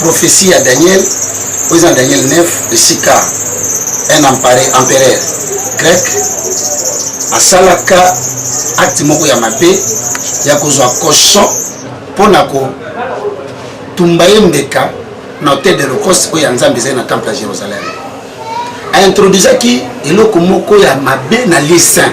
prophetie ya daniel oyo eza na daniel 9 esika un empereur grec asalaka acte moko ya mabe ya kozwa cochon mpo na kotumba ye mbeka na hotel de locoste oyo ya nzambe ezali na temple ya jérusalem aintroduisaki eloko moko ya mabe na lieu saint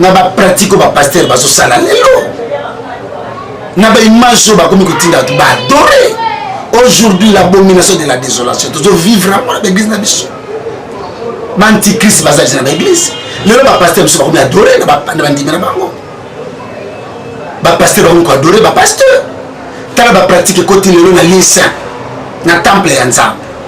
na ba pratique oyo ba pasteur bazo sala lelo na ba image oyo bakomi kotinda bato ba adore aujourd'hui la abomination de la désolation tozo vivre yango na baeglise na biso baantichrist bazalisi na baeglise lelo bapaster biso bakomi adore na bandimi na bango bapaster bakomi koadore bapaster tala bapratique ekoti lelo na lisa na temple ya nzambe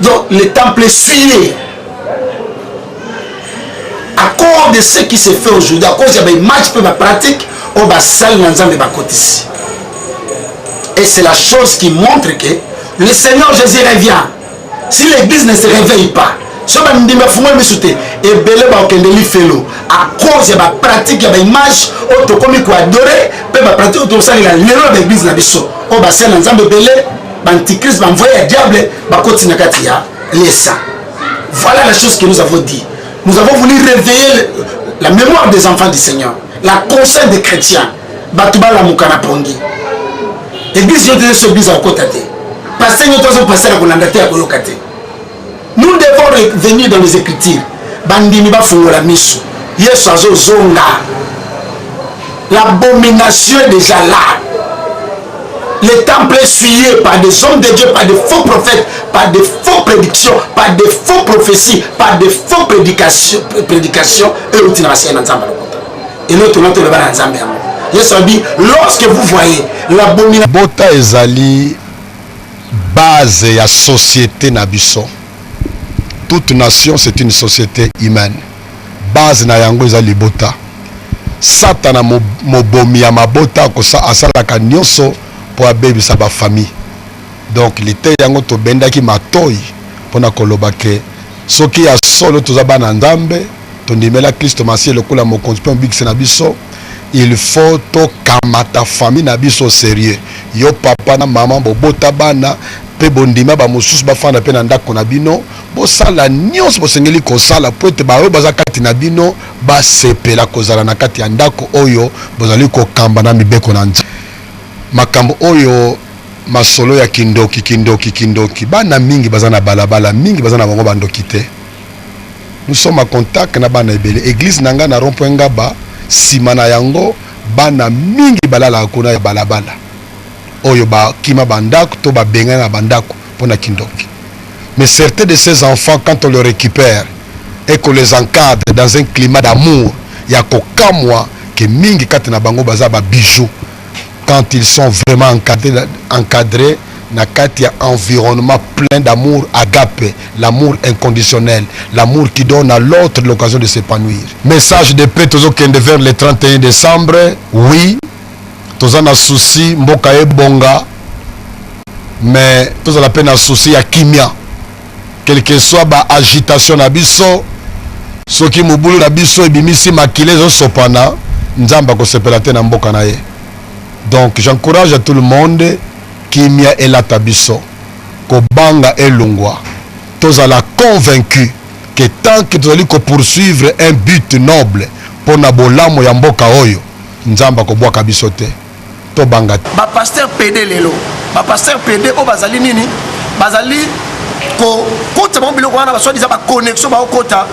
Donc le temple suye à cause de ce qui se fait aujourd'hui, à cause des matchs que ma pratique, on va salle dans un ici. Et c'est la chose qui montre que le Seigneur Jésus revient. Si l'église ne se réveille pas, so bandimi afungoli miso te ebele bakokende lifelo a cause ya bapratique ya baimage oyo tokomi koadore mpe bapratique oyo tokosalela lelo na baeglise na biso oyo basali na nzambe ebele B'antichrist, b'envoye ya diable, bakoti na kati ya lesa. Voilà la chose que nous avons dit. Nous avons voulu réveiller la mémoire des enfants du Seigneur, la conscience des chrétiens. Bato balamuka na pongi. Église yo te so église akota te. Pasteur yo to so pasteur akolanda te akoyoka te. nous devons revenir dans les écritures bandimi bafungola miso yesu azozonga l'abomination est déjà là le temple est suyé par des hommes de dieu par des faux prophètes par des faux prédictions par des faux prophéties par des faux prédications prédications oyo outi na basiya na nzambe alokota eloko tolona toloba na nzambe yango yesu abi lorsque vous voyez l'abomination bota ezali Base ya societe na biso. Toute nation c'est une societe humaine. Base na yango eza libota. Satana mobomi ya mabota akosa asalaka nyoso po abebisa ba famille. Donc lite yango tobendaki matoi pona koloba ke soki ya solo toza bana Nzambe tondimela Klisto Masiya lokola mokonzi pe mobikisi na biso il faut to kamata famille na biso serieux yo papa na maman bobota bana mpe bondima bamosusu bafanda mpe na ndako na bino bosala nyonso bosengeli kosala mpo ete baoyo baza kati na bino basepela kozala na kati ya ndako oyo bozali kokamba na mibeko na nzambe makambo oyo masolo ya kindoki kindoki kindoki bana mingi baza na balabala mingi baza na bango bandoki te nous sommes en contact na bana ebele église na nga na rond point ngaba nsima na yango bana mingi balalaka kuna ya balabala oyo bakima bandako to babengani na bandako mpo na kindoki mais certains de ces enfants quand on le récupère et qu'on les encadre dans un climat d'amour ya kokamwa ke mingi kati na bango baza babijoux quand ils sont vraiment encadrés, encadrés na kati ya environnement plein d'amour agape, l'amour inconditionnel, l'amour qui donne à l'autre l'occasion de s'épanouir. Message de paix tozokende vers le 31 décembre. Oui, toza na souci mboka ebonga mais tozala mpe na souci ya kimia quelque soit ba agitation na biso soki mobulu na biso ebimisi makila ezosopana nzambe akosepela te na mboka na ye donc j'encourage à tout le monde kimia elata biso kobanga elongwa tozala convaincu que tant que tozali ko poursuivre un but noble mpo na bolamu ya mboka oyo nzambe akobwaka biso te tobanga te bapaster pede lelo bapaster pede oyo bazali nini bazali kokota bango biloko wana baswadiza baconnexion baokota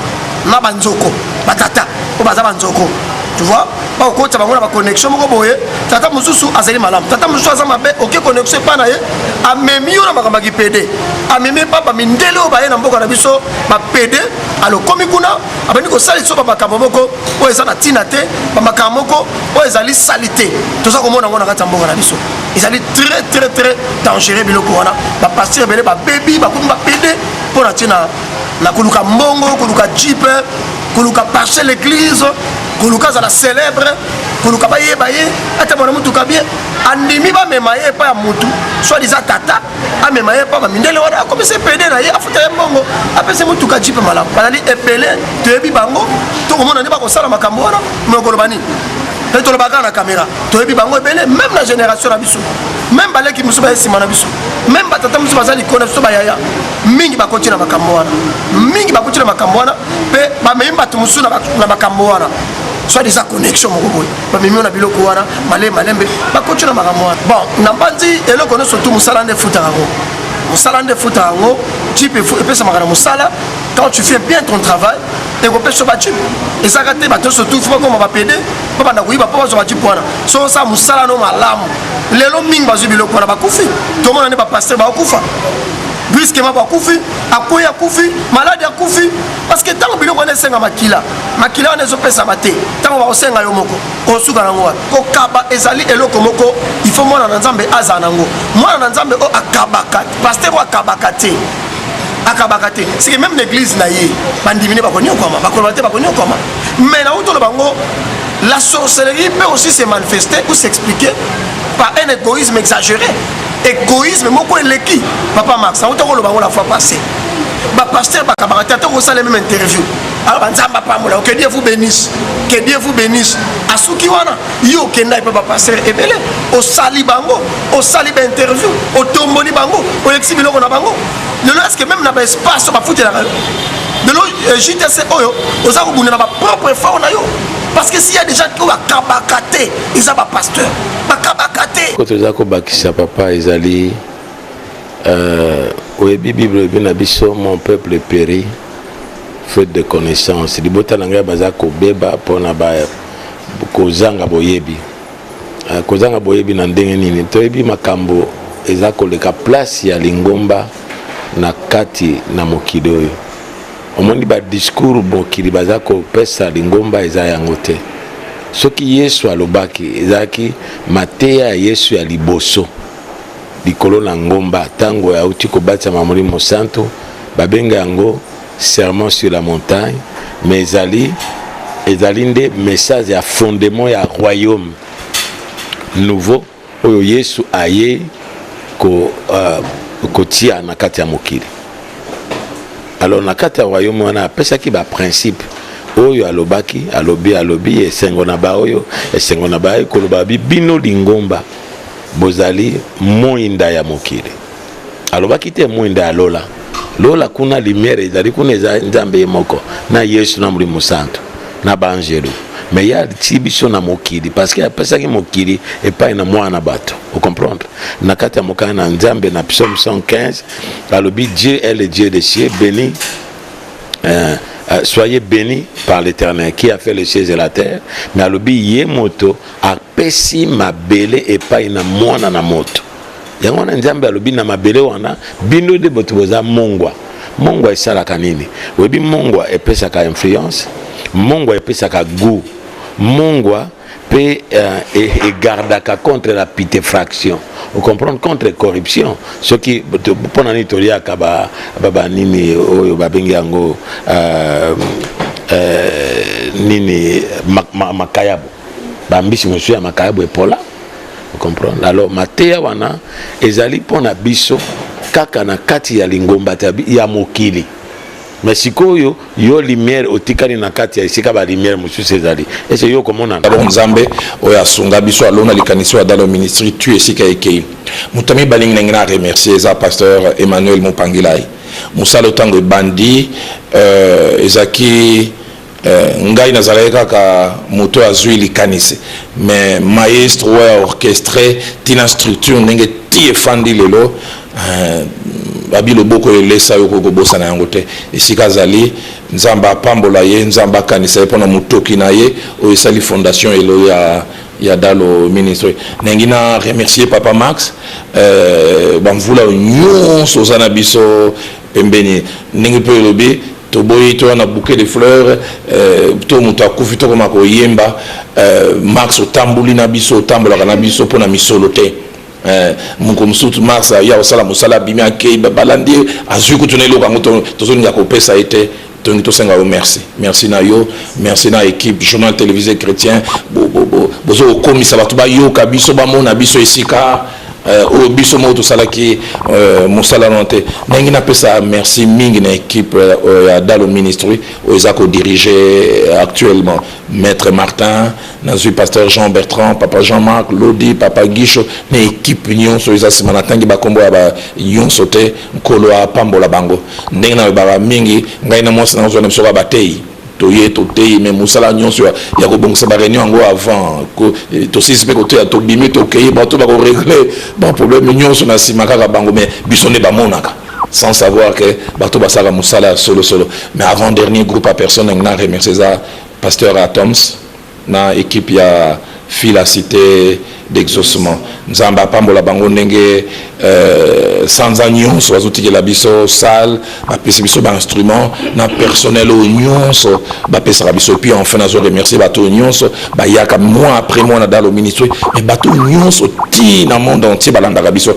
na banzoko batata oyo baza banzoko tu vois bakokotisa bango na baconnexion moko boye tata mosusu azali malamu tata mosusu aza mabe oke connexion epai na ye amemi yo na makambo ya kipede amemi epa bamindele oyo baye na mboka na biso bapede alokomi kuna abandi kosalisa yo bamakambo moko oyo eza na ntina te bamakambo moko oyo ezali salite toza komona yango na kati ya mboka na biso ezali très très très dangereux biloko wana bapasteur ebele babebi bakomi bapede mpo na ntina na koluka mbongo koluka jipe koluka parche l'église koluka azala célèbre koluka bayeba ye atambola motuka bien andimi bamema ye epai ya motu soit eza tata amema ye epai bamindele wana akomisa epede na ye afuta ye mbongo apesi motuka jipe malamu bazali ebele toyebi bango tokomona nde bakosala makambo wana mokoloba nini mpe tolobaka na kamera toyebi bango ebele meme na génération na biso meme baleki mosusu baye nsima na biso meme batata mosusu baza likolo na biso bayaya mingi bakoti na makambo wana mingi bakoti na makambo wana mpe bamemi bato mosusu na makambo wana soit disant connexion moko boye bamemi yo na biloko wana malembe malembe bakoti na makambo wana bon na mbanzi eloko nyonso tu mosala nde efutaka yango mosala nde efutaka yango jipe epesamaka na mosala quand tu fais bien ton travail ekopesa yo bajipe ezalaka te bato nyonso tu fo bakoma bapede babanda koyiba mpo bazwa bajipe wana so osala mosala no malamu lelo mingi bazwi biloko wana bakufi tomona nde bapaster bakokufa brusquement bakufi akwei akufi maladi akufi parceke ntango biloko wana esenga makila makila wana ezopesama te ntango bakosenga yo moko osuka nango wapi kokaba ezali eloko moko ifo mwana na nzambe azala nango mwana na nzambe oyo akabaka paster oyo akabaka te akabaka te seke meme na eglize na ye bandimi ne bakonyokwama bakoloba te bakonyokwama mai na utolo bango la sorcellerie peut aussi se manifester ou s'expliquer par un égoïsme exagéré egoïsme moko eleki papa max auta koloba yango la fois passé bapasteur bakabaka te ata okosala meme interview alors banzambe apambola que dieu vous bénisse que dieu vous bénisse asuki wana yo okenda epa bapasteur ebele osali bango osali bainterview otomboli bango olekisi biloko na bango lelo eske meme na baespace bafutelaka yo lelo euh, jtc oyo oza kobunda na bapropre effort na yo parce que s'il y a des gens oyo bakabaka te eza bapasteur bakabaka te ko toza kobakisa papa ezali euh, oyebi bible ebi na biso mon peuple péri faute de connaissance libota na ngai baza kobeba mpona kozanga boyebi euh, kozanga boyebi na ndenge nini toyebi makambo eza koleka place ya lingomba na kati na mokili oyo omoni ba discours mokili baza kopesa lingomba eza yango te soki yesu alobaki ezalaki mateya ya yesu ya liboso likolo na ngomba ntango auti kobatisama molimo mosantu babenga yango serment sur la montagne mais ezali ezali nde message ya fondement ya royaume nouveau oyo Yesu aye ko uh, kotia na kati ya mokili alors na kati ya royaume wana apesaki baprincipe oyo alobaki alobi alobi esengo na baoyo esengo na baye koloba bi bino lingomba bozali moinda ya mokili alobaki te mwinda ya lola lola kuna lumière ezali kuna eza nzambe ye moko na yesu na molimo santu na baangelu me ye atii biso na mokili parceke apesaki mokili epai na mwana na bato ocomprendre na kati ya mokanda na nzambe na psaume 115 alobi dieu est le dieu de cieux béni euh, Euh, soyez bénis par l'éternel qui a fait les cieux et la terre mais alobi ye moto apesi mabele epai na mwana na moto yango wana nzambe alobi na mabele wana bino nde bato boza mongwa mongwa esalaka nini oyebi mongwa epesaka influence mongwa epesaka gout mongwa mpe euh, e, egardaka contre la pitefraction ocomprendre contre corruption soki mpo na nini toliaka banini ba, ba, oyo babengi yango euh, euh, nini makayabo ma, ma bambisi mosusu ya makayabo epola Vous comprenez? Alors mateya wana ezali mpo na biso kaka na kati ya lingomba ya mokili mais sikoyo yo lumière otikali na kati ya esika ba lumière mosusu ezali ese yo okomona alo nzambe oyo asunga biso alona likanisi oyo adalo ministri tu esika ekei moto ya mibale nginangi na remercier eza pasteur emmanuel mopangilai mosala ntango ebandi euh, ezalaki Eh, ngai nazalaki kaka moto azwi likanisi mais maestro oyo ya orchestre tina structure ndenge ti efandi lelo eh, babi loboko elesa yo okoki kobosana yango te esika azali nzambe apambola ye nzambe akanisa ye mpo na motoki na ye oyo esali fondation elo ya ya dalo ministre nalingi na remercier papa max eh, bamvula oyo nyonso oza na biso pembeni ndenge pe olobi toboyi toya na bouquet de fleurs to mutu akufi tokoma koyemba Mars otamboli na biso otambolaka na biso pona misolo te mokolo mosusu Mars aya kosala mosala abimi akeyi balandi ye azui kutu na eloko yango tozolinga kopesa ye te tolingi tosenga yo merci merci na yo merci na équipe journal télévisé chrétien bozo kokomisa bato bayoka biso bamona biso esika euh, oyo biso moko tosalaki euh, mosala no te ndenge napesa merci mingi na équipe euh, ya dalo ministry oyo eza kodirige actuellement maître martin nazwi pasteur jean bertrand papa jean marc lodi papa guicho na équipe nyonso eza nsima natangi bakombo ya ba nyonso te Nkolo apambola bango. Ndenge nalobaka mingi, ngai na mwasi na ngai tozalaki na biso kaka bateyi. Toye, toteyi, mais mosala nyonso ya, ya kobongisa ba reunions yango avant ko, eh, tosilisi mpe koteya, tobimi, tokeyi, bato bako regler ba problèmes nyonso na sima kaka bango, mais biso nde bamonaka. sans savoir que bato basalaka mosala ya solo solo. Mais avant dernier groupe ya personne nalingi na remercier eza pasteur Atoms, na equipe ya fila cite d'exaucement nzambe apambola bango ndenge euh, sanza nyonso bazotikela biso salle bapesi biso bainstrument na personnel oyo nyonso bapesaka biso epuis enfin nazo remercier bato oyo nyonso bayaka mois après mois na dalo ministre mais bato oyo nyonso ti na monde entier balandaka biso